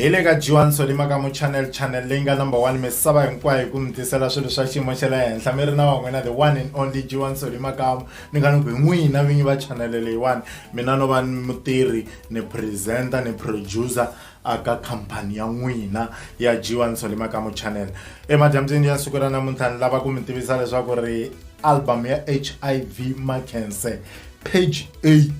hi le ka jiwani solima ka mu channel channel leyi nga number one misava hinkwayo hi ku mi tisela swilo swa xiyimo xa le henhla mi ri na van'wina the one and only jiwani solima kamu ni nga ni ku hi n'wina vinyi va channel leyiwani mina no va mutirhi ni presenter ni producer aka khampani ya n'wina ya jiwa nsole makamu channel emadyambyini ya siku ra namuntlha ni lava ku mi tivisa leswaku ri album ya hiv makense page 8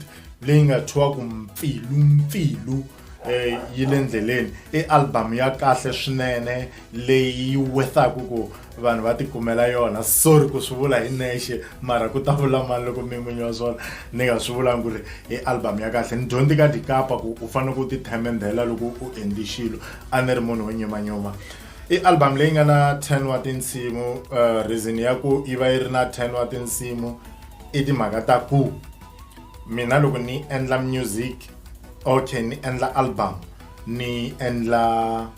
leyi nga thyiwaku mpfilu mpfilu eh, yi le ndleleni i album ya kahle swinene leyi yi wethaku ku vanhu va tikumela yona sorry ku swi vula hi nexe mara ku ta vula mani loko mi n'winyi wa swona ni nga swi vulangi ku ri i album ya kahle ni dyondzi ka dikapa ku u fanele ku ti themendhela loko u endli xilo a ni ri munhu wo nyumanyuma i album leyi nga na 10 wa tinsimu uh, reason ya ku yi va yi ri na 10 wa tinsimu i timhaka ta ku mina loko ni endla music okay ni endla album ni endla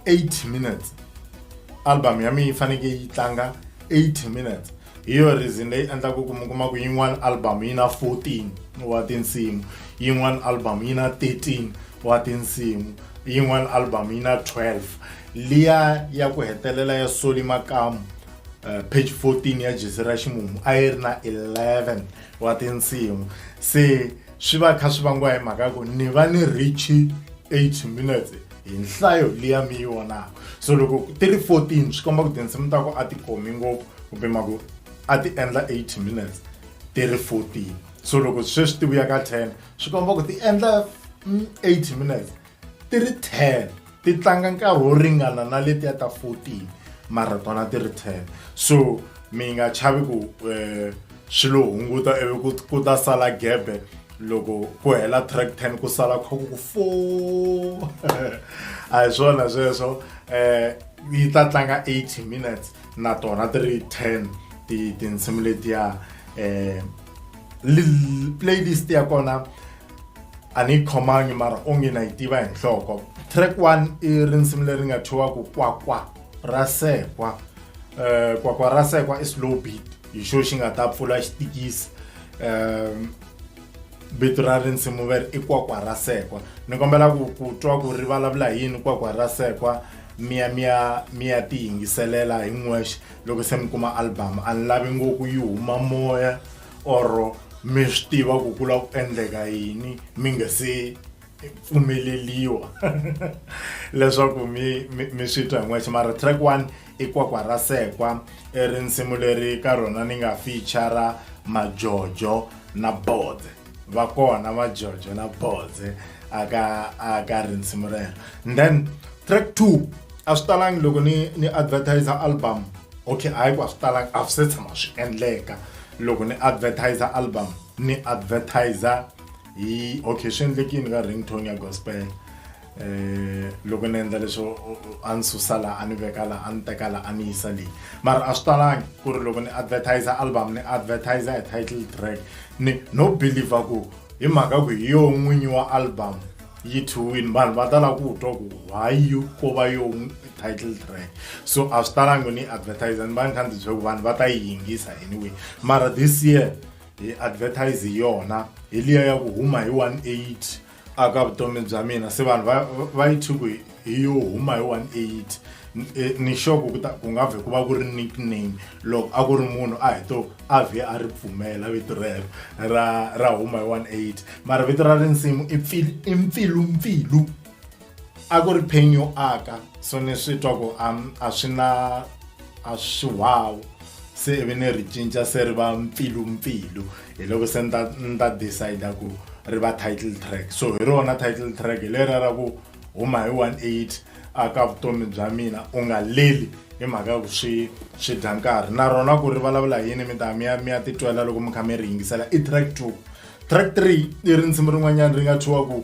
80 minutes album ya mina yi fanekele yi tlanga 80 minutes hi yo reason leyi endlaka ku mi kuma ku yin'wana album yi na 14 wa tinsimu yin'wana album yi na 13 wa tinsimu yin'wana album yi na 12 liya ya ku hetelela ya soli makamu uh, page 14 ya jesi ra ximumu a yi ri na 11 wa tinsimu se swi va kha swi vangiwa hi mhaka ku ni va ni richi 8 minutes hi nhlayo liya mi yi vonaka so loko ti ri 14 swi komba ku tinsimu ta ku a ti khomi ngopfu kumbe ma ku a ti endla 8 minutes ti ri 14 so loko sweswi ti vuya ka 10 swi komba ku ti endla 8 mm, minutes ti ri 10 ti tlanga nkarhi wo ringana na letiya ta 14 mara tona ti ri 10 so mi nga chavi ku um swi lo hunguta ivi ku ku ta sala gebe loko ku hela track ten ku sala kha ku ku fo a hi swona sweswo um yi ta tlanga eighty minutes na tona ti ri ten ti tinsimu letiya um playlist ya kona a ni yi khomangi mara onge na yi tiva hi nhloko track one i ri nsimu leri nga thyiwaku kwakwa ra sekwa um kwakwa ra sekwa i slow beat hi xo xi nga ta pfula xitikisi um vito ra risimu veri i kwakwa ra sekwa ni kombela ku ku twa ku ri vulavula hi yini kwakwa ra sekwa miya miya miya ti yingiselela hi n'wexe loko se mi kuma album a ni lavi ngopfu yi huma moya or mi swi tiva ku ku lava ku endleka yini mi nga se pfumeleliwa leswaku mi mi mi swi twa hin'wexe mara track one i kwakwa ra sekwa i ri nsimu leri ka rona ni nga feature majojo na bodze va kona majojo na bodze aka aka rinsimu rero and then track two a swi talangi loko ni ni advertiser album okay hayi ku a swi talangi a swi se tshama swi endleka loko ni advertiser album ni advertiser hi okay swi endlekini ka ringtone ya gospel eh loko ni endla leswo a ni susa la a ni veka la a ni teka la a ni yisa leyi mara a swi talangi ku ri loko ni advertiser album ni advertiser hi title track ni no believer ku hi mhaka ku hi yo n'winyi wa album yi thiwini vanhu va tala ku twa ku why you ko va yo title track so a swi talangi ni advertiser ni va ni kha ndzi byela ku vanhu va ta yi yingisa anyway mara this year hi advertise hi yona hi liya ya ku huma hi 18 aka vutomi bya mina se vanhu va va yi thyi ku hi- hi yo huma hi 18 N- eh, ni sure ku ku ta- ku nga vhe ku va ku ri nickname loko a ku ri munhu a hi to a vhe a ri pfumela vito rero ra ra huma hi 18 mara vito ra rinsimu i pfil- i mpfilumpfilu a ku ri pain yo aka so ni swi twa ku a swi na a swi wawu se ivi ni ri cinca se ri va mpfilumpfilu hi loko se ni ta ni ta decide ku ri va title track so hi rona title track hi lera ra ku huma hi 18 a ka vutomi bya mina u nga leli hi mhaka ya ku swi swi dya nkarhi na rona ku ri vulavula yini mi ta mi ya mi ya titwela loko mi kha mi ri yingisela i track two track three i ri nsimu rin'wanyana ri nga thyiwa ku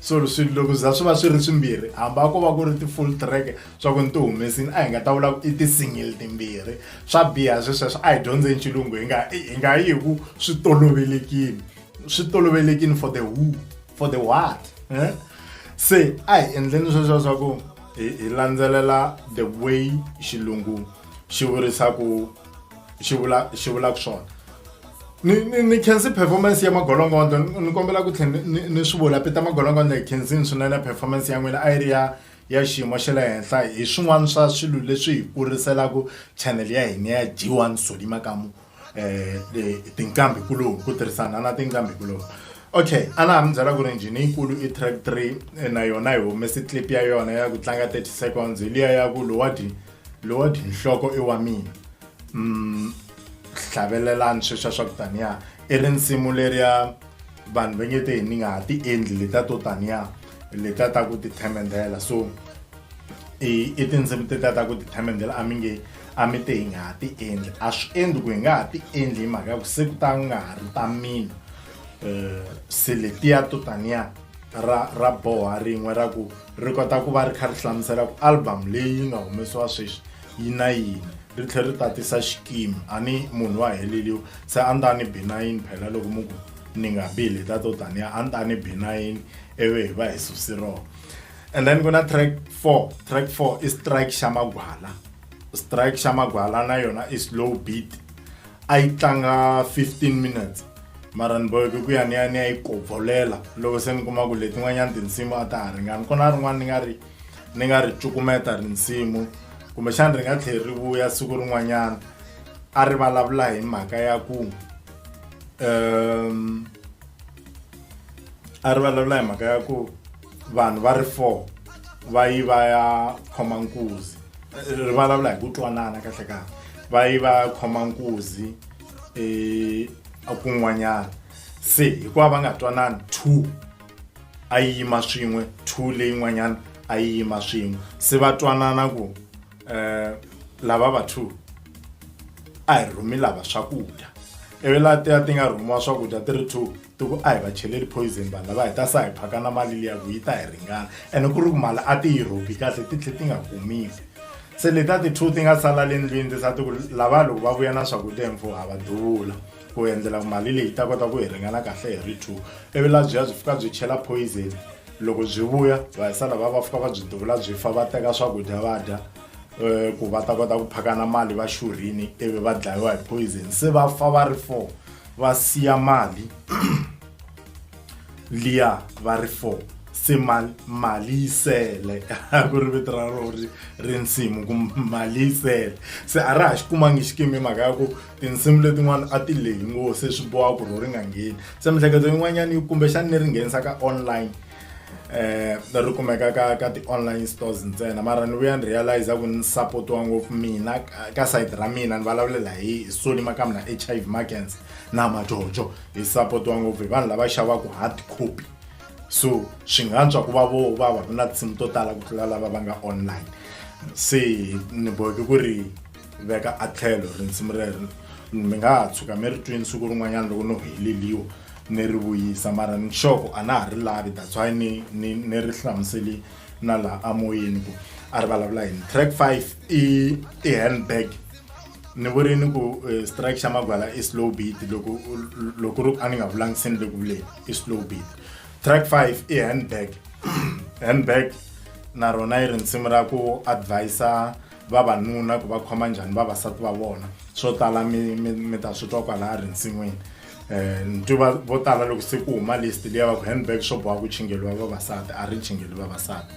so swilo loko za swi va swi ri swimbirhi hamba ko va ku ri ti-full track swa ku ni ti humesini a hi nga ta vula ku i ti-single timbirhi swa biha swesweswo a hi dyondzeni xilungu hi nga hi nga yi hi ku swi tolovelekile swi tolovelekile for the who for the what eh? se a hi endleni sweswo swa ku hi landzelela the way xilungu xi vurisaku xi vula xi vulaka swona ni ni ni khensi performance ya magolongondo ni kombela ku tlhela ni ni swi vula peta magolongondo hi khensini swinene performance ya n'wina a yi ri ya ya xiyimo xa le henhla hi swin'wana swa swilo leswi hi kuriselaka channel ya hina ya g one soli makamu um tinqambi kuloni ku tirhisana na tinqambi kuloni okay a na ha mi byela ku ri njhini yikulu i track three na yona hi humese clip ya yona ya ku tlanga thirty seconds hi liya ya ku lowadi lowadi nhloko i wa mina mm, hlavelelani sweswa swa ku taniya i ri nsimu leriya vanhu va nge te hi ni nga ha ti endli leta to taniya leta ta ku tithemendela so i i tinsimu teta ta ku tithemendela a mi nge a mi te hi nga ha ti endli a swi endli ku hi nga ha ti endli hi mhaka ya ku se ku ta nga ha ri ta mina um se letiya to taniya ra ra boha rin'we ra ku ri kota ku va ri kha ri hlamusela ku album leyi nga humesiwa sweswi yi na yini ri tlhe ri tatisa xikimi a ni munhu wa heleliwa se a ni ta ni bi na yini phela loko mu ku ni nga bi leta to taniya a ni ta ni bi na yini ivi hi va hi susi rona and then ku na track four track four i strike xa magwala strike xa magwala na yona i slow beat a yi tlanga 15 minutes mara ni boheke ku ya ni ya ni ya yi kopfolela loko se ni kuma ku letin'wanyana tinsimu a ta ha ringani ku na rin'wana ni nga ri ni nga ri cukumeta rinsimu kumbexana ri nga tlheli ri vuya siku rin'wanyana a ri vulavula hi mhaka ya ku um a ri vulavula hi mhaka ya ku vanhu va ri four va yi va ya khoma nkuzi ri vulavula hi ku twanana kahle kahle va yi va ya khoma nkuzi um kun'wanyana se hikuva va nga twanani two a yi yima swin'we two leyin'wanyana a yi yima swin'we se va twanana ku um lava va two a hi rhumi lava swakudya ivi laha ti ya ti nga rhumiwa swakudya ti ri two ti ku a hi va cheleli poison vanhu lava hi ta sa hi phaka na mali liya ku yi ta hi ringana ene ku ri ku mali a ti yi rhobi kahle ti tlhe ti nga kumiwi se leti a ti two ti nga sala le ndlwini ti sa ti ku lava loko va vuya na swakudya hi mfuwo ha va duvula ku endlela mali leyi ta kota ku hi ringana kahle hi ri two ivi la byi ya byi fika byi chela poison loko byi vuya va hi sala va va fika va byi duvula byi fa va teka swakudya va dya um ku va ta kota ku phakana mali va xurhini ivi va dlayiwa hi poison se va fa va ri four va siya mali liya va ri four se mali yi sele ku ri vito ra rona ri nsimu ku mali yi sele se a ra ha xi kumangi xikimi mhaka ya ku tinsimu letin'wana a ti lehi ngopfu se swi boha ku ri ri nga ngheni se miehleketo yin'wanyana yi kumbexana ni ri nghenisa ka online eh ri kumeka ka ka ti-online stores ntsena mara ni vuya ni realize ku ni support-iwa ngopfu mina ka sayiti ra mina ni vulavulela hi sony makamu na h i v makens na majojo hi support-iwa ngopfu hi vanhu lava xavaka hard copy so swi nga ntswa ku va vo va va ku na tinsimu to tala ku tlula lava va nga online se ni boheke ku ri veka a tlhelo rinsimu rero mi nga ha tshuka mi ri twini siku rin'wanyana loko no heleliwa ni ri vuyisa mara ni xoko a na ha ri lavi that's why ni ni ni ri hlamuseli na laha amoyeni ku a ri vulavula yini track five i i handbag ni vurini ku eh, strike xa magwala i slow beat loko loko ri a ni nga vulangisini le ku vuleni i slow beat track five i handbag handbag na rona yi ri nsimu ra ku advisa vavanuna ku va khoma njhani vavasati va vona swo tala mi mi mi ta swi twa kwalaya rinsin'wini um ni twi vo tala loko se ku huma list liya va ku handbag swo boha ku chingeliwa vavasati a ri chingeli vavasati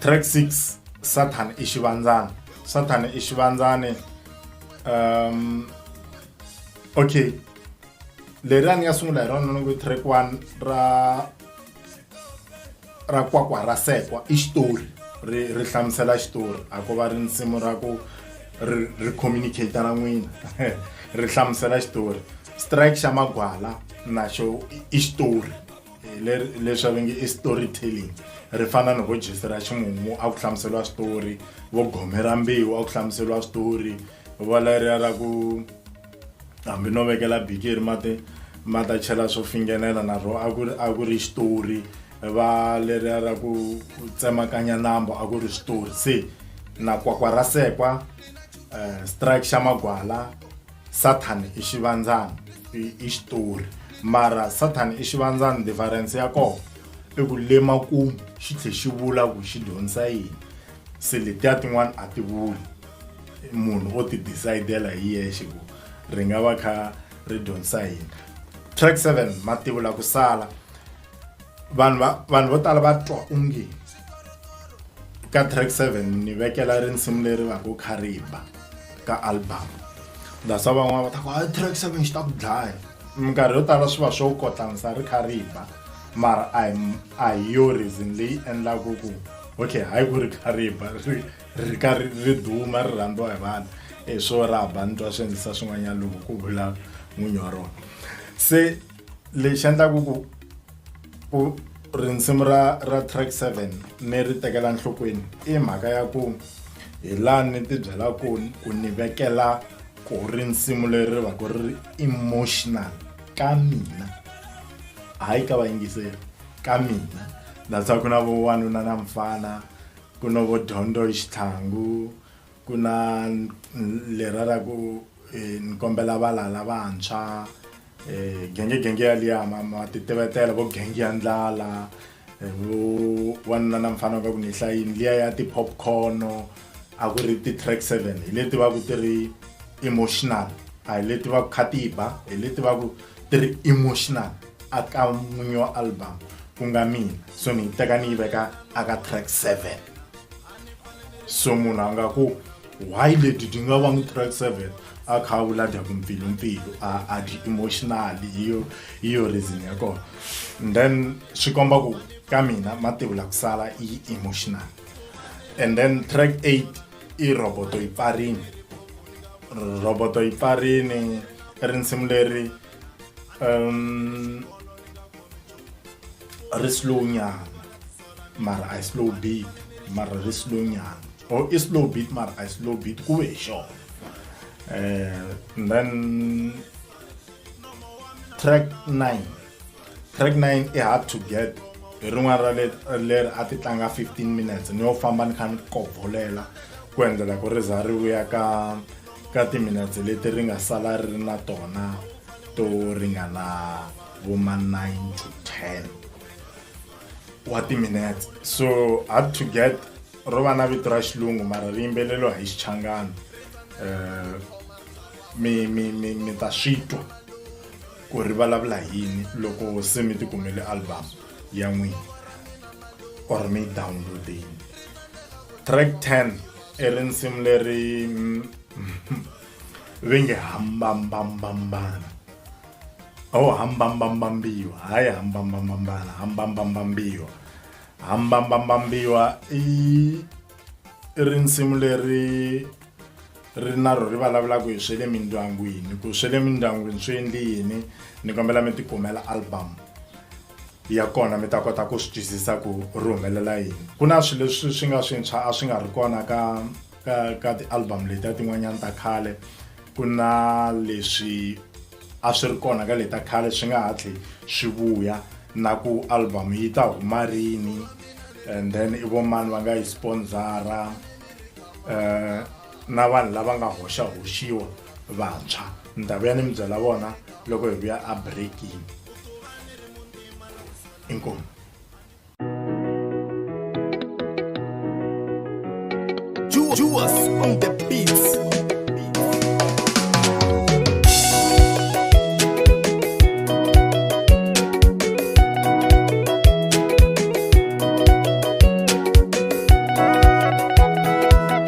track six sathana i xivandzana sathana i xivandzane um okay leriya ni nga sungula hi rona ni ku track one ra ra kwakwa ra sekwa i xitori ri ri hlamusela xitori a ko va ri nsimu ra ku ri ri communicate na n'wina ri hlamusela xitori strike xa magwala naxo i xitori leswi va nge i story telling ri fana ni vo jesi ra ximumu a ku hlamuseriwa switori vo gome ra mbewu a ku hlamuseriwa switori vo leriya ra ku hambi no vekela bikiri mati ma ta chela swo fingenela na rho a ku ri xitori va leriya ra ku tsemakanya nambo a ku ri xitori se na kwakwa ra sekwa um strike xa magwala satan i xivandzana i xitori mara satan i xivandzana difference ya kona i ku le makumu xi tlhe xi vula ku xi dyondzisa yini se letiya tin'wana a ti vuli munhu o ti decidela hi yexe ku ri nga va kha ri dyondzisa yini track 7 mativu la ku sala vanhu va vanhu vo tala va twa onge ka track 7 ni vekela rinsimu leri va ku khariba ka album that's why van'wana va ta ku hayi track 7 xi ta ku dlaya minkarhi yo tala swi va swo kotlanisa ri khariba mara a hi a hi yo reason leyi endlaku ku okay hayi ku ri kha ri ba ri ri ka ri ri duma ri rhandziwa hi vanhu i e, swo ra ba ni twa swi endlisa swin'wanyana loko ku vula n'winyi wa rona se lexi endlaku ku ku rinsimu ra ra track seven ni ri tekela nhlokweni i mhaka ya ku hi laha ni ti byela ku ku ni vekela ku rinsimu leri ri va ku ri emotional ka mina hayi ka vayingiseri ka mina that's why ku na vo wanuna na mfana ku na vo dyondzo hi xitlhangu ku na lera ra ku eh, ni kombela valala vantshwa um genge genge yaliya ma ma ti tivetela vo genge ya ndlala eh, vo wanuna na mfana wa ka ku ni hlayini liya ya ti-popcorn a ku ri ti-track seven hi leti va ku ti ri emotional a hi leti va ku khatiba hi leti va ku ti ri emotional aka n'winyi wa album ku nga mina so ni yi teka ni yi veka aka track seven so munhu a nga ku why leti ti nga vangi track seven a kha a vula dyaku mpfilumpfilu a dyi emotional hi yo hi yo reason ya kona and then swi komba ku ka mina mativula ku sala i emotional and then track eight i roboto yi pfarini roboto yi pfarini rinsimu leri um ri slow nyana mara i slow beat mara ri slow nyana or i slow beat mara i slow beat ku ve hi xona um then track nine track nine i hard to get hi rin'wana ra le leri a ti tlanga 15 minutes ni yo famba ni kha ni kovolela ku endlela ku ri za ri vuya ka ka timinetse leti ri nga sala ri ri na tona to ringana vo ma 9 to 10 wa timinetse so up to get ro va na vito ra xilungu mara ri yimbeleriwa hi xichangana um mi mi mi mi ta swi twa ku ri vulavula yini loko se mi tikumele album ya n'wina or mi yi downloadini track 10 i risimu leri ve nge hambambambambana o oh, hambambambambiwa hayi hambambambambana hambambambambiwa hambambambambiwa i i risimu leri ri na ro ri vulavulaka hi swe le mindyangwini ku swe le mindyangwini swi endli yini ni kombela mi tikumela album ya kona mi ta kota ku swi twisisa ku ri humelela yini ku na swilo leswi swi nga swintshwa a swi nga ri kona ka ka ka ti-album letiya tin'wanyana ta khale ku na leswi a swi ri kona ka leta khale swi nga hatli swi vuya na ku album yi ta huma rini and then i vo mani va nga yi sponsora um na vanhu lava nga hoxa hoxiwa vantshwa ni ta vuya ni mi byela vona loko hi vuya a breaking inkomu Juas on the beats.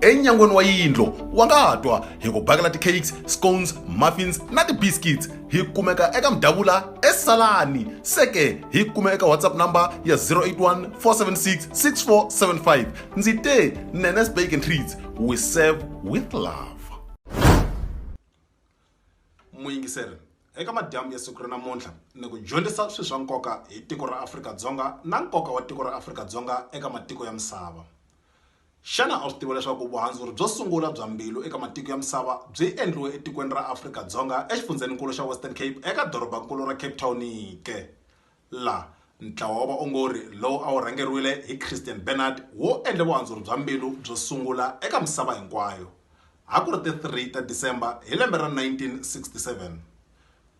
enyangweni wa yindlo wa nga ha twa hi ku bakela ti-cakes scones muffins na ti-biscuits hi kumeka eka mdavula esalani seke hi kume eka whatsapp number ya 081 476 6475 ndzi te nenes bake and treats we serve with love muyingiseri eka madyambu ya siku ra namuntlha ni ku dyondzisa swilo swa nkoka hi tiko ra afrika-dzonga na nkoka wa tiko ra afrika-dzonga eka matiko ya misava Xana a wu swi tiva leswaku vuhandzuri byo sungula bya mbilu eka matiko ya misava byi endliwe etikweni ra Afrika Dzonga exifundzheni-nkulu xa Western Cape eka doroba-nkulu ra Cape Town ke? La, ntlawa wa vaongori lowu a wu rhangeriwile hi Christiaan Barnard wu endle vuhandzuri bya mbilu byo sungula eka misava hinkwayo. A ku ri ti 3 ta December hi lembe ra 1967.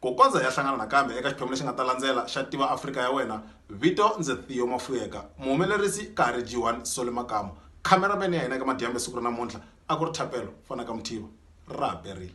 Ku kondza hi ya hlangana nakambe eka xiphemu lexi nga ta landzela xa Tiva Afrika ya Wena, vito ndzi Theo Mafuyeka, muhumelerisi ka ha ri Jiwan Soli Makamu, khamera man ya hina eka Madyambe siku ra namuntlha a ku ri Thapelo Fanaka Muthiva. Ra ha perile.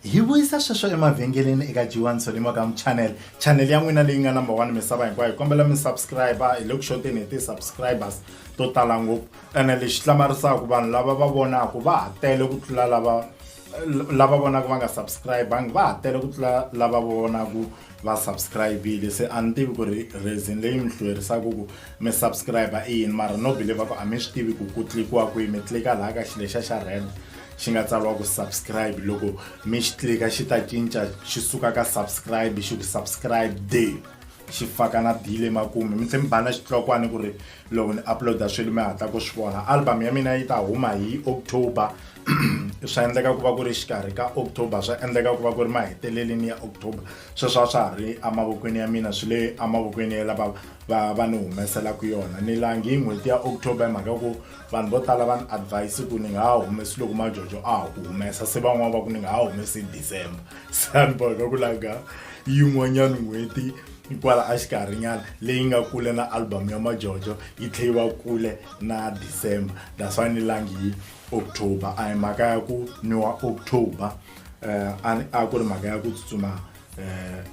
Hi vuyisa sweswo emavhengeleni eka G1 Solimo Gam Channel, channel ya n'wina leyi nga number 1 misava hinkwayo. Hi kombela mi subscriber, hi le ku xoteni hi ti subscribers to tala ngopfu. Ene lexi hlamarisaka vanhu lava va vonaka va ha tele ku tlula lava lava vonaka va nga subscribanga va ha tele ku tlula lava vonaka va subscribile se a ni tivi ku ri reason leyi mi hlwerisaka ku mi subscriber i yini mara no believe ku a mi swi tivi ku ku tlikiwa kwihi mi tlika laha ka xilexa xa rand xi nga tsariwa ku subscribe loko mi xi tlika xi ta cinca xi suka ka subscribe xi ku subscribe de xi faka na bile makume mi tlhela mi bana xitlokwana ku ri loko ni uploada swilo mi hatla ku swi vona album ya mina yi ta huma hi october swa endleka ku va ku ri xikarhi ka october swa endleka ku va ku ri maheteleleni ya october sweswo a swa ha ri emavokweni ya mina swi le emavokweni ya lava va va ni humeselaka yona ni langi hi n'hweti ya october hi mhaka ku vanhu vo tala va ni advise ku ni nga ha humesi loko majojo a ha ku humesa se van'wana va ku ni nga ha humesi hi december se a ni boheka ku langa yin'wanyana n'hweti kwala a xikarhinyana leyi nga kule na album ya majojo yi tlhe yi va kule na december that's why ni langi hi october a hi mhaka ya ku ni wa october um a ku ri mhaka ya ku tsutsuma eh,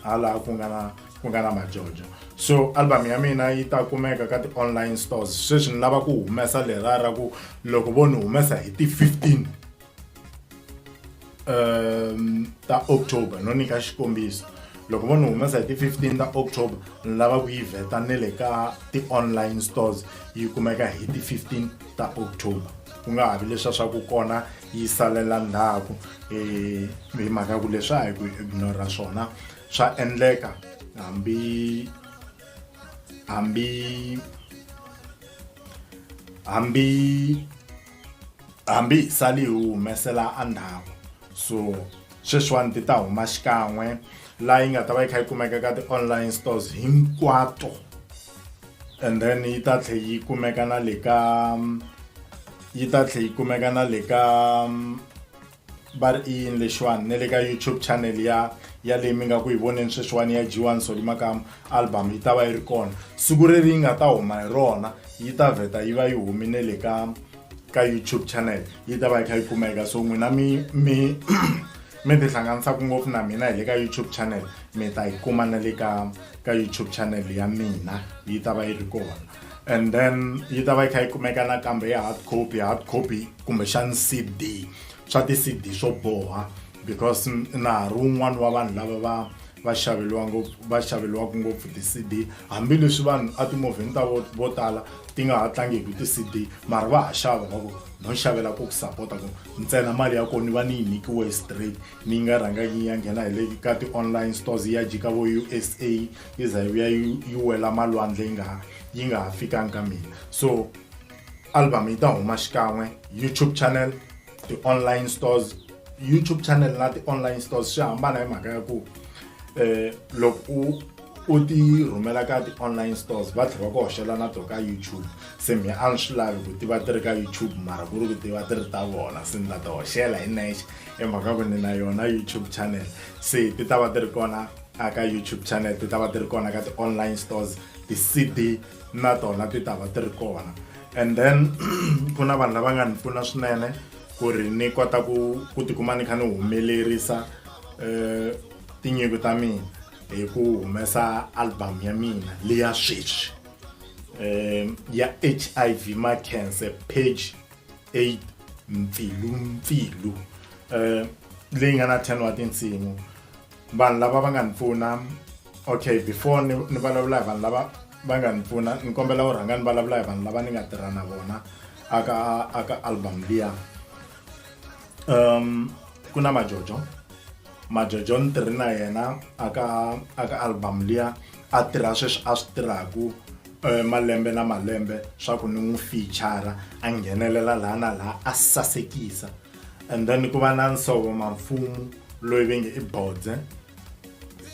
hala ku nga na ku nga na majojo so album ya mina yi ta kumeka ka ti-online stores sweswi ni lava ku humesa lera ra ku loko vo ni humesa hi ti-15 um ta october no nyika xikombiso loko vo ni humesa hi ti-15 ta october ni lava ku yi vheta ne le ka ti-online stores yi kumeka hi ti-15 ta october ku nga ha vi leswa swa ku kona yi salela ndzhaku um hi mhaka ya ku leswi a hi ku ignora swona swa endleka hambi hambi hambi hambi hi sali hi humesela endzhaku so sweswiwani ti ta huma xikan'we laha yi nga ta va yi kha yi kumeka ka ti-online stores hinkwato and then yi ta tlhe yi kumeka na le ka yi ta tlhe yi kumeka na le ka mm, va ri i yini lexiwani na le ka youtube channel ya ya leyi mi nga ku yi voneni sweswiwani ya g1 soli makama album yi ta va yi ri kona siku reri yi nga ta huma hi rona yi ta vheta yi va yi humi ne le ka ka youtube channel yi ta va yi kha yi kumeka so n'wina mi mi mi tihlanganisaku ngopfu na mina hi le ka youtube channel mi ta yi kuma na le ka ka youtube channel ya mina yi ta va yi ri kona and then yi ta va yi kha yi kumeka nakambe ya hard copy hard copy kumbexani cd swa ti-cd swo boha because na ha ri wun'wani wa vanhu lava va va xaveliwa ngopfu va xaveliwaka ngopfu ti-cd hambileswi vanhu a timovheni ta vo vo tala ti nga ha tlangiki ti-cd mara va ha xava va ku no xavela ku ku sapota ku ntsena mali ya kona ni va ni yi nyikiwe straight ni yi nga rhangangi yi ya nghena hi le ka ti-online stores yi ya jika vo U_S_A yi za yi vuya yi yi wela malwandle yi nga ha yi nga ha fikangi ka mina so album yi ta huma xikan'we youtube channel ti-online stores youtube channel na ti-online stores swi hambana hi mhaka ya ku eh loko u u ti rhumela ka ti-online stores va tlhela va ku hoxela na to ka youtube se mi a ni swi lavi ku tiva ti ri ka youtube mara ku ri ku tiva ti ri ta vona se ni ta ti hoxela hi nexe emhaka ku ni na yona youtube channel se ti ta va ti ri kona aka youtube channel ti ta va ti ri kona ka ti-online stores ti-cd na tona ti ta va ti ri kona and then ku na vanhu lava nga ni pfuna swinene ku ri ni kota ku ku tikuma ni kha ni humelerisa um tinyiko ta mina hi ku humesa album ya mina leya sweswi um ya h i v ma cancer page eight mpfilumpfilu um leyi nga na ten wa tinsimu vanhu lava va nga ni pfuna okay before ni ni vulavula hi vanhu lava va nga ni pfuna ni kombela u rhanga ni vulavula hi vanhu lava ni nga tirha na vona aka aka album liya um ku na majojo majojo ni tirhi na yena aka aka album liya a tirha sweswi a swi tirhaku Eh, malembe na malembe swa ku ni n'wi fichara a nghenelela laha na laha a sasekisa and then ku va na nsovo mamfumu loyi ve nge i bodze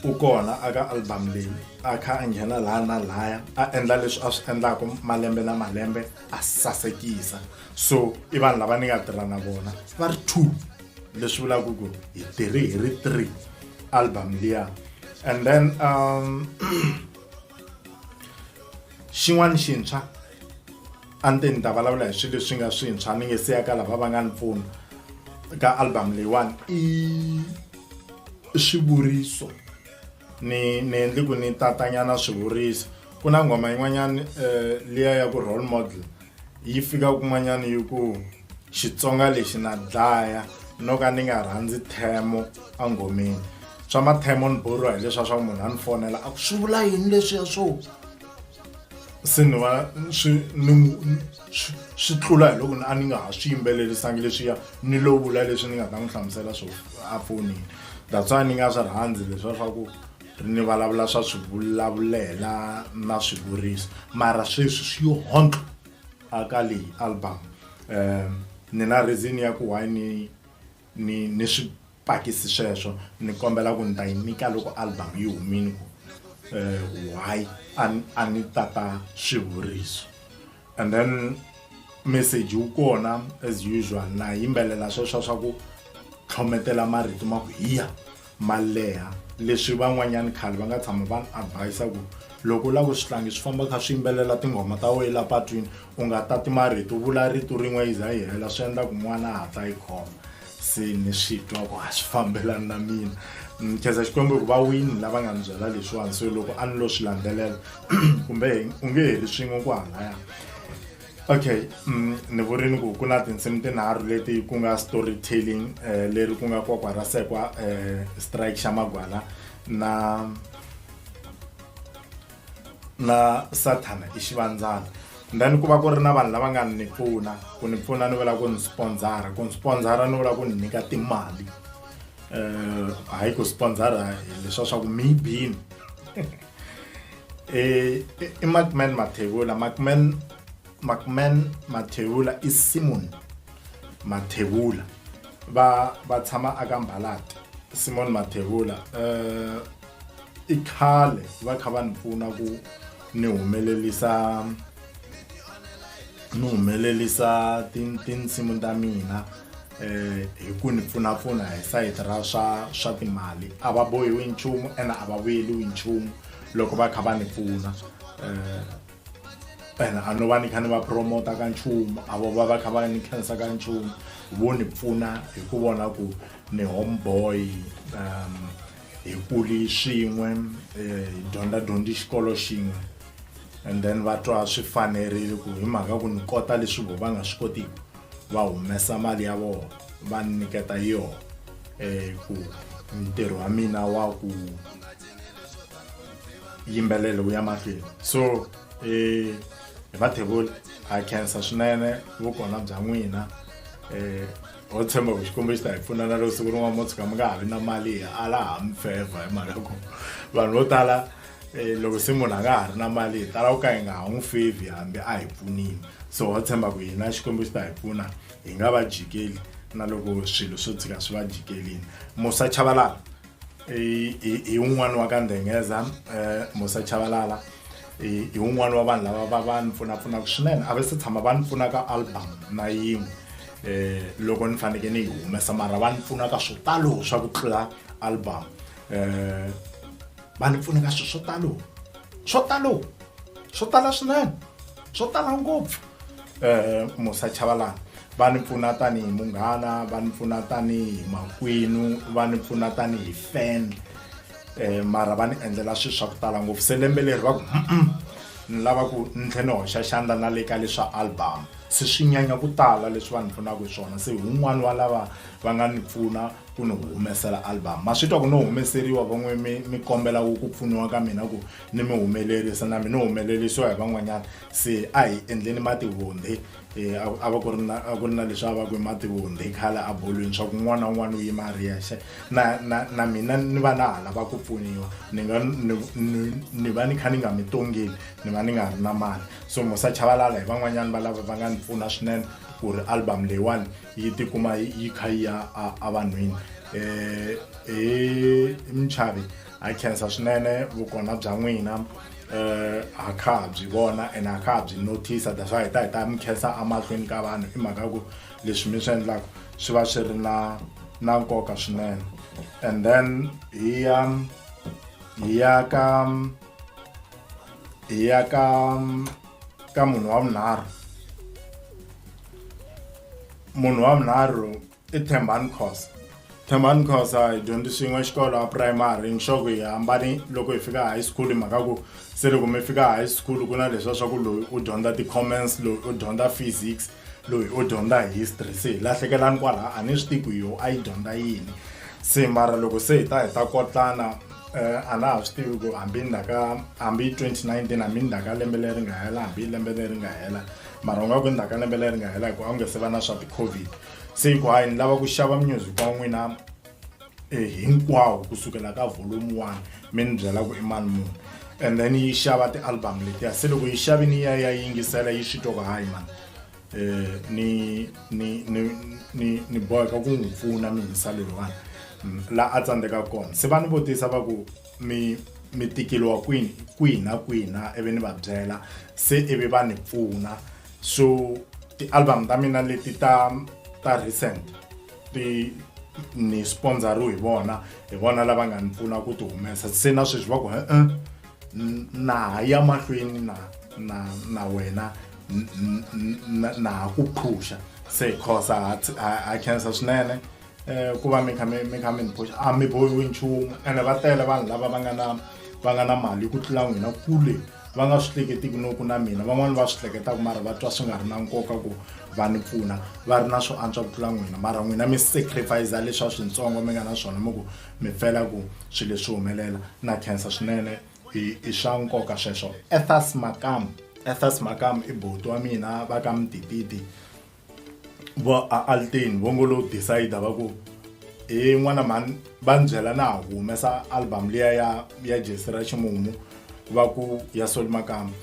u kona aka album leyi a kha a nghena laha na laya a endla leswi a swi endlaka malembe na malembe a sasekisa so i vanhu lava ni nga tirha na vona va ri two leswi vulaka ku hi tirhi hi ri three album liya and then um xin'wana xintshwa a ni te ni ta vulavula hi swilo leswi nga swintshwa ni nge se ya ka lava va nga ni pfuna ka album leyiwani i swivuriso ni ni endli ku ni tatanyana swivuriso ku na nghoma yin'wanyana um liya ya ku role model yi fika kun'wanyana yi ku xitsonga lexi na dlaya no ka ni nga rhandzi themo enghomeni swa mathemo ni borhiwa hi leswiya swa ku munhu a ni fonela a ku swi vula yini leswiya swo se ni va swi ni swi tlula hi loko a ni nga ha swi yimbelerisangi leswiya ni lo vula leswi ni nga ta n'wi hlamusela swo a fonini that's why ni nga swi rhandzi leswa swa ku ni vulavula swa swi vulavulela na swi vurisa mara sweswi swi yo hontlo a ka leyi album um ni na reason ya ku why ni ni ni swipakisi sweswo ni kombela ku ni ta yi nyika loko album yi humile ku um why a a ni tata swivuriso and then message wu kona as usual na yimbelela sweswo swa ku tlhometela marito ma ku hiya ma leha leswi van'wanyani khale va nga tshama va ni advise ku loko u lava ku swi tlangi swi famba kha swi yimbelela tinghoma ta wena la patwini u nga tati marito u vula rito rin'we yi za yi hela swi endla ku n'wana a hatla yi khoma se ni swi twa ku a swi fambelani na mina ni khensa xikwembu ku va wini lava nga ni byela leswiwani so loko a ni lo swi landzelela kumbe u nge heli swin'we ku halaya okay mm, ni vurini ku ku na tinsimu tinharhu leti ku nga story telling um eh, leri ku nga kwakwa ra sekwa um strike xa magwala na na sathana i xivandzana then ku va ku ri na vanhu lava nga ni pfuna ku ni pfuna ni vula ku ni sponsora ku ni sponsora ni vula ku ni nyika timali um hayi ku sponsora leswa swa ku mi bini Eh iMacman Mathebula Macman Macman Mathebula i Simon Mathebula va va tshama aka Mbalati Simon Mathebula eh i khale va kha va ni pfuna ku ni humelelisa ni humelelisa tinsimu ta mina eh hi ku ni pfunapfuna hi sayiti ra swa swa timali a va bohiwi nchumu ene a va vuyeliwi nchumu loko va kha va ni pfuna um ene a no va ni kha ni va promota ka nchumu a vo va va kha va ni khensa ka nchumu vo ni pfuna hi ku vona ku ni home boy um hi kuli swin'we um hi dyondza dyondzi xikolo xin'we and then va twa swi fanerile ku hi mhaka ku ni kota leswi vo va nga swi kotiki va humesa mali ya vona va ni nyiketa yona um ku ntirho wa mina wa ku yimbelela wu ya mahlweni so um hi vathevula ha khensa swinene vukona bya n'wina um ho tshemba ku xikwembu xi ta hi pfuna na loko siku rin'wana mo tshuka mi nga ha vi na mali hi ala ha mi fevha hi mhaka ku vanhu vo tala Eh, loko se munhu a nga ha ri na mali hi tala ku ka hi nga ha n'wi fevi hambi a hi pfunile so wa tshemba ku hina xikwembu xi ta hi pfuna hi nga va jikeli na loko swilo swo tshika swi va jikelini musa chavalala hi un'wana wa ka ndhengeza um eh, musa chavalala hi un'wana wa vanhu lava va va ni pfunapfunaka swinene a va se tshama va ni pfuna ka album na yin'we um loko ni fanekele ni yi humesa mara va ni pfuna ka swo talo swa ku tlula album um va ni pfuneka swilo swo talo swo talo swo tala swinene swo tala ngopfu um musa chavalana va ni pfuna tanihi munghana va ni pfuna tanihi makwenu va ni pfuna tanihi fan um mara va ni endlela swilo swa ku tala ngopfu se lembe leri va ku ni lava ku ni tlhe ni hoxa xandla na le ka leswa album se swi nyanya ku tala leswi va ni pfunaka hi swona se hi wun'wani wa lava va nga ni pfuna ku ni humesela album ma swi twa ku no humeseriwa van'we mi mi kombela ku ku pfuniwa ka mina ku ni mi humelerisa na mi ni humelerisiwa hi van'wanyana se a hi endleni mativundhi eh, a a va ku ri na a ku ri na leswi a va ku i mativundhi khale a bolweni swa ku n'wana na un'wana u yima a ri yexe na na na mina ni va na ha lava ku pfuniwa ni nga ni ni- ni va ni kha ni nga mi tongeli ni va ni nga ri na mali so musa chavalala hi van'wanyana va lava va nga ni pfuna swinene ku ri album leyiwani yi tikuma yi kha yi ya evanhwini um hi minchavi ha khensa swinene vukona bya n'wina um eh, ha kha ha byi vona and ha kha ha byi notice that's why hi ta hi ta mi khensa emahlweni ka vanhu i mhaka ya ku leswi mi swi endlaka swi va swi ri na na nkoka swinene and then hi ya hi ya ka hi ya ka ka munhu wa vunharhu munhu wa vunharhu i thembani khosa thembani khosa hi dyondzi swin'we xikolo a primary nxoko hi hambani loko hi fika high school hi mhaka ku se loko mi fika high school ku na leswiya swa ku loyi u dyondza ti-comments loyi u dyondza physics loyi u dyondza hi history se hi lahlekelani kwalaha a ni swi tivi ku yo a yi dyondza yini se mara loko se hi ta hi ta kotlana um a na ha swi tivi ku hambi ni ka hambi twenty nineteen hambi ni ka lembe leri nga hela hambi lembe leri nga hela mara u nga ku ni ka lembe leri nga hela hi ku a wu nge se va na swa ti-covid se hi ku hayi ni lava ku xava music wa n'wina e hinkwawo kusukela ka volume 1 mi ni byela ku i mali muni and then yi xava ti-album letiya se loko yi xavi ni ya ya yingisela yi swi toko hayi mani um ni ni ni ni ni boheka ku n'wi pfuna mihisa leyiwani mm, laha a tsandzeka kona se va ni vutisa va ku mi mi tikeliwa kwini kwihi na kwihi na ivi ni va byela se ivi va ni pfuna so ti-album ta mina leti ta ta recent ti ni sponsoriwe hi vona hi vona lava nga ni pfuna ku ti humesa se na sweswi va ku e-e na ha ya mahlweni na na na wena na ha ku phusha se cause ha khensa swinene um ku va mi kha mi mi kha mi ni phusha a mi bohiwi nchumu ene va tele vanhu lava va nga na va nga na mali ku tlula n'wina kule va nga swi hleketiki no ku na mina van'wani va swi hleketaka mara va twa swi nga ri na nkoka ku va ni pfuna va ri na swo antswa ku tlula n'wina mara n'wina mi sacrifice leswi a swintsongo mi nga na swona mi ku mi pfela ku swilo leswi humelela na khensa swinene i i swa nkoka sweswo ethas makam ethas makam i boti wa mina va ka mitititi vo a altin vo ngo lo decide va ku he n'wana mhani va ni byela na ha humesa album liya ya ya jesi ra ximumu va ku ya soli makamba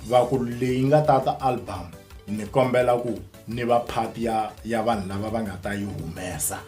va ku leyi nga tata album ni kombela ku ni va part ya ya vanhu lava va nga ta yi humesa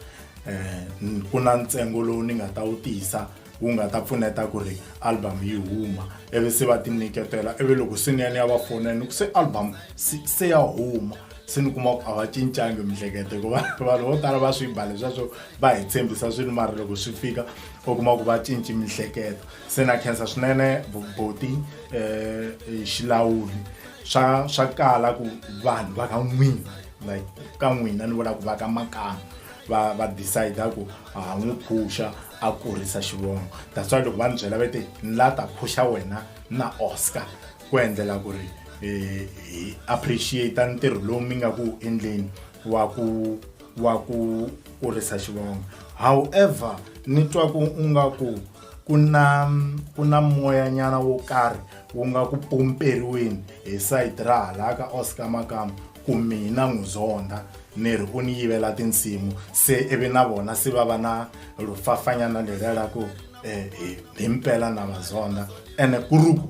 um ku na ntsengo lowu ni nga ta wu tisa wu nga ta pfuneta ku ri album yi huma ivi se va tinyiketela ivi loko se ni ya ni ya va fona ni ku se album se ya huma se ni kuma ku a va cincangi miehleketo hikuva vanhu vo tala va swi ba leswaswo va hi tshembisa swilo mara loko swi fika u kuma ku va cinci miehleketo se na khensa swinene boti um eh, eh, xilawuli swa swa kala ku vanhu va ka n'wina like ka n'wina ni vula ku va ka makana va va decide ku ha n'wi phusha a kurisa xivongo that's why loko va ni byela va te ni la ta phusha wena na oscar ku endlela ku ri eh, hi appreciate ntirho lowu mi nga ku endleni wa ku wa ku kurisa xivongo however ni twa ku u nga ku ku na ku na moyanyana wo karhi wu nga ku pomperiweni hi side ra hala ka oscar makama Ku mina n'uzonda, niri u ni yivela tinsimu, se ivi na vona si vava na lufafanyana leriya la ku, E, hi, himpela na va zonda. Ene ku ri ku,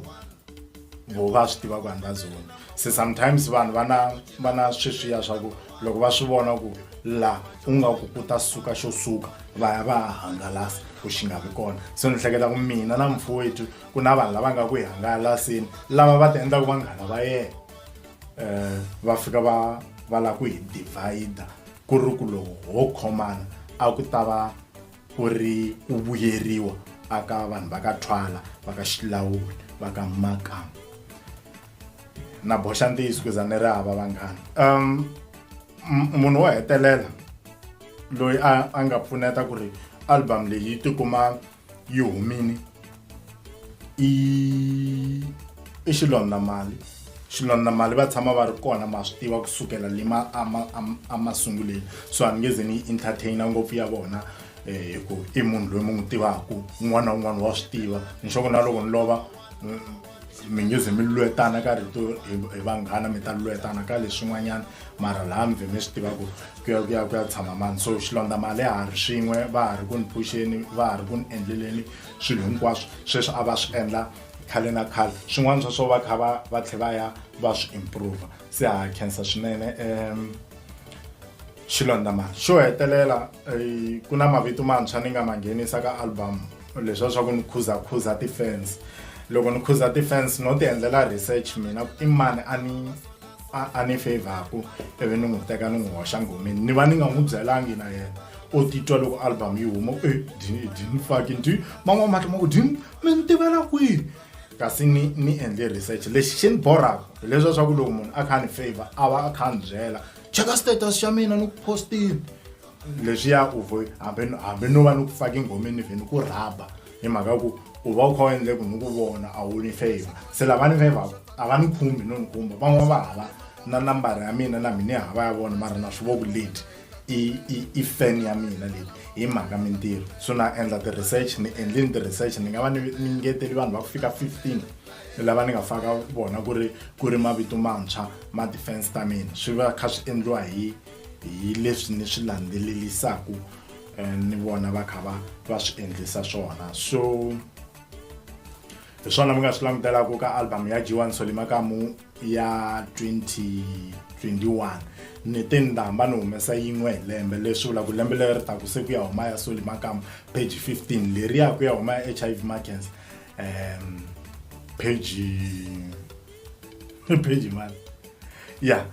voho va swi tiva ku a ni va zondi. Se sometimes vanhu va na, va na sweswiya swa ku loko va swi vona ku la ku nga ku ku ta suka xo suka, va ya va ya hangalasa ku xi nga vi kona. Se ni hleketa ku mina na mufowethu ku na vanhu lava nga ku hi hangalaseni, lava va ti endlaka vanghana va yena. eh va fika va va la ku hi divide ku ri ku loko ho khomana a ku ta va ku ri ku vuyeriwa aka vanhu va ka thwala va ka xilawula va ka makamba na boxa ntiyiso kuza ni ri hava vanghana um munhu wo hetelela loyi a a nga pfuneta ku ri album leyi yi tikuma yi humile i i xilondamali xilondamali va tshama va ri kona ma swi tiva kusukela le ma emasunguleni so a ni nge ze ni yi entertaina ngopfu ya vona um hi ku i munhu loyi mi n'wi tivaka un'wana na un'wana wa swi tiva nxoko na loko ni lova mi nge ze mi lwetana ka rito hi vanghana mi ta lwetana ka leswin'wanyana mara laha mi vhe mi swi tiva ku ku ya ku ya ku ya tshama mani so xilondza mali ya ha ri swin'we va ha ri ku ni phuxeni va ha ri ku ni endleleni swilo hinkwaswo sweswi a va swi endla khale na khale swin'wana swa swo va kha va va tlhe va ya va swi improva se ha khensa swinene um xilondza mali xo hetelela ku na mavito mantshwa ni nga ma nghenisa ka album leswiya swa ku ni khuzakhuza ti-fans loko ni khuza ti-fans no ti endlela research mina i mani a ni a ni favor-ku ivi ni n'wi teka ni n'wi hoxa nghomeni ni va ni nga n'wi byelangi na yena o titwa loko album yi huma e dini faki ndi man'wana mahlo ma ku dini mi ni tivela kwihi kasi ni ni endle research lexi xi ni borhaka hileswiya swa ku loko munhu a kha a ni favor a va a kha a ni byela cheka status xa mina ni ku postile leswiya u vo hambi no va ni ku faka engomeni vheni ku rhaba hi mhaka ya ku u va u kha u endle ku ni ku vona a wu ni favor se lava ni favor a va ni khumbi no ni kumba van'wana va hava na nambara ya mina na mina hava ya vona mara na swi voku leti i i i fan ya mina leti hi mhaka mintirho so na endla ti-research ni endleni ti-research ni nga va ni ni ngeteli vanhu va ku fika fifteen lava ni nga faka vona ku ri ku ri mavito mantshwa ma-defense ta mina swi va kha swi endliwa hi hi leswi ni swi landzelelisaku eh, ni vona va kha va va swi endlisa swona so hi swona mi nga swi langutelaku ka album ya jiwan solimakamu ya 2021 ni te ni ta hamba ni humesa yin'we hi lembe leswi vula ku lembe leri ta ku se ku ya huma ya solimakamu page 15 leri ya ku ya huma ya h i v markens um page Page man. Yeah.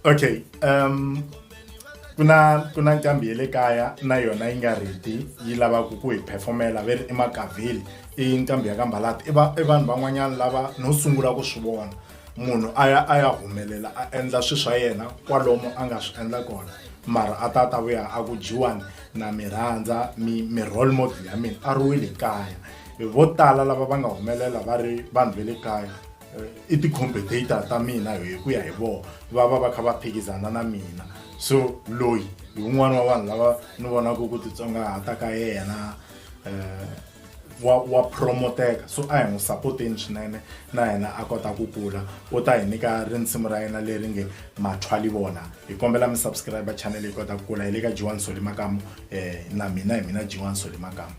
Okay. Um ku na ku na nqambi ya le kaya na yona yi nga reti yi lavaka ku hi performela ve ri i makavheli i nqambi ya ka mbalata i va i vanhu van'wanyana lava no sungula ku swi vona munhu a ya a ya humelela a endla swilo swa yena kwalomu a nga swi endla kona mara a ta ta vuya a ku dyiwani na mi rhandza mi mi role model ya mina a ri wile kaya vo tala lava va nga humelela va ri vanhu va le kaya i ti-competator ta mina hi ku ya hi vona va va va kha va phikizana na mina so loyi hi un'wana wa vanhu lava ni vonaka ku titsongahata ka yena um wa wa promoteka so a hi n'wi sapoteni swinene na yena a kota ku kula u ta hi nyika rinsimu ra yena leri nge mathwali vona hi kombela mi subscribe channel yi kota ku kula hi le ka jiwan soli makamu um na mina hi mina jiwan soli makamu